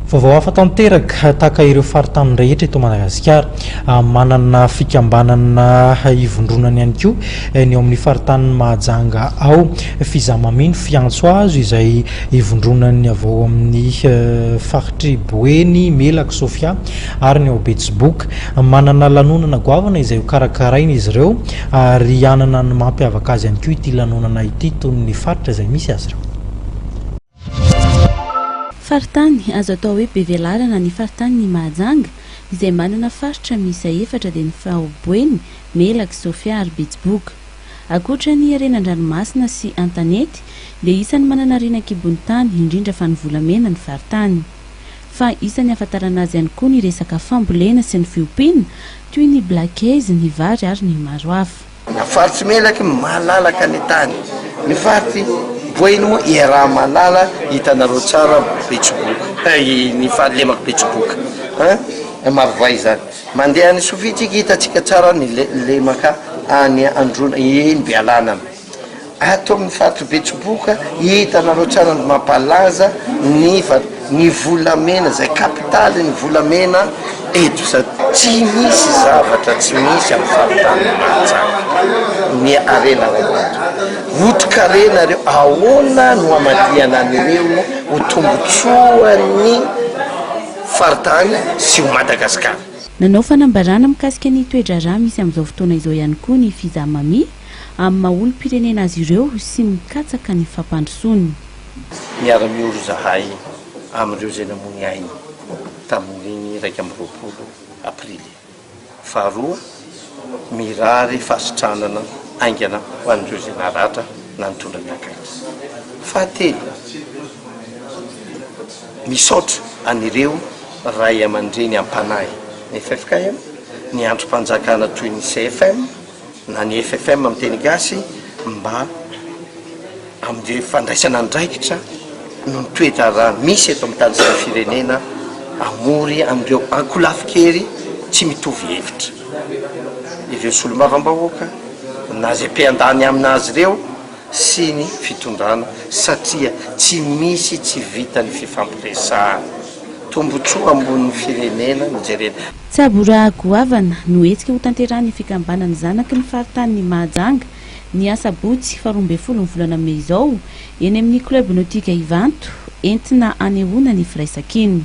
Vaovao hafa tanteraka, tahaka ireo faritany rehetra eto Madagasikara, ah, manana fikambanana hivondronany ihany koa eh, ny ao amin'ny faritanin'i Mahajanga ao. F'izaho mameno fiantso azo izay ivondronany avy ao amin'ny eh, faritr'i Boeny, Melaky, Sofia ary ny ao Betsiboka. Manana lanonana goavana izay hokarakaraina izy ireo ary hanana ny mampiavaka azy ihany koa ity lanonana ity, tony ny faritra izay misy azy ireo. Faritany, Azo atao hoe be velarana ny faritanin'i Mahajanga, izay manana faritra miisa efatra dia ny Faho Boeny, Melaky, Sofia ary Betsiboka. Ankoatra ny harena an-dranomasina sy an-tanety dia isan'ny manana harena an-kibon'ny tany, indrindra fa ny volamena, ny faritany. Fa isan'ny ahafantarana azy ihany koa ny resaka fambolena sy ny fiompiana, toy ny black eyes, ny vary ary ny maro hafa. Na faritsy melaky malalaka ny tany, ny faritsy boino iaraha-malala hitanareo tsara betsiboka eh, ny fa lemako betsiboka eh, marovay izany, mandeha any Sofiatsika hitantsika tsara ny le, lemaka any Androna, eny Bealanana. Ato amin'ny faritra Betsiboka, hitanareo tsara ny mampalaza ny ny volamena, izay kapitalin'ny volamena eto izao. Tsy misy zavatra tsy misy amin'ny faritany Mahajanga, ny harena ao anaty. Otrikarena ireo, ahoana no hamadihana an'ireo ho tombotsoan'ny faritany sy ho Madagasikara. Nanao fanambarana mikasika ny toe-draharaha misy amin'izao fotoana izao ihany koa ny Fizamami, amin'ny maha olom-pirenena azy ireo sy mikatsaka ny fampandrosoany. Miara-miory izahay amin'ireo izay namoy ainy tamin'ny iraika amby roapolo Aprily faharoa, mirary fahasitranana haingana ho an'ireo izay naratra na nitondra ny akaiky. Fahatelo, misaotra an'ireo Ray aman-dreny am-panahy ny ffkm, ny Andrim-panjakana toy ny CFM, na ny FFM amin'ny teny gasy mba amin'ny fandraisana andraikitra noho ny toe-draharaha misy eto amin'ny tany sy ny firenena hamory an'ireo ankolafin-kery tsy mitovy hevitra ireo solombavambahoaka na izay mpiandany amin'azy ireo sy ny fitondrana satria tsy misy tsy vitan'ny fifampiresahana. Tombontsoa ambonin'ny firenena no jerena. Tsabo ra goavana no hetsika ho tanterahan'ny fikambanan'ny zanaky ny faritanin'i Mahajanga, ny asabotsy faha roa ambin'ny folon'ny volana mey izao, eny amin'ny Club Nautique Ivanto, entina hanehoana ny firaisankina.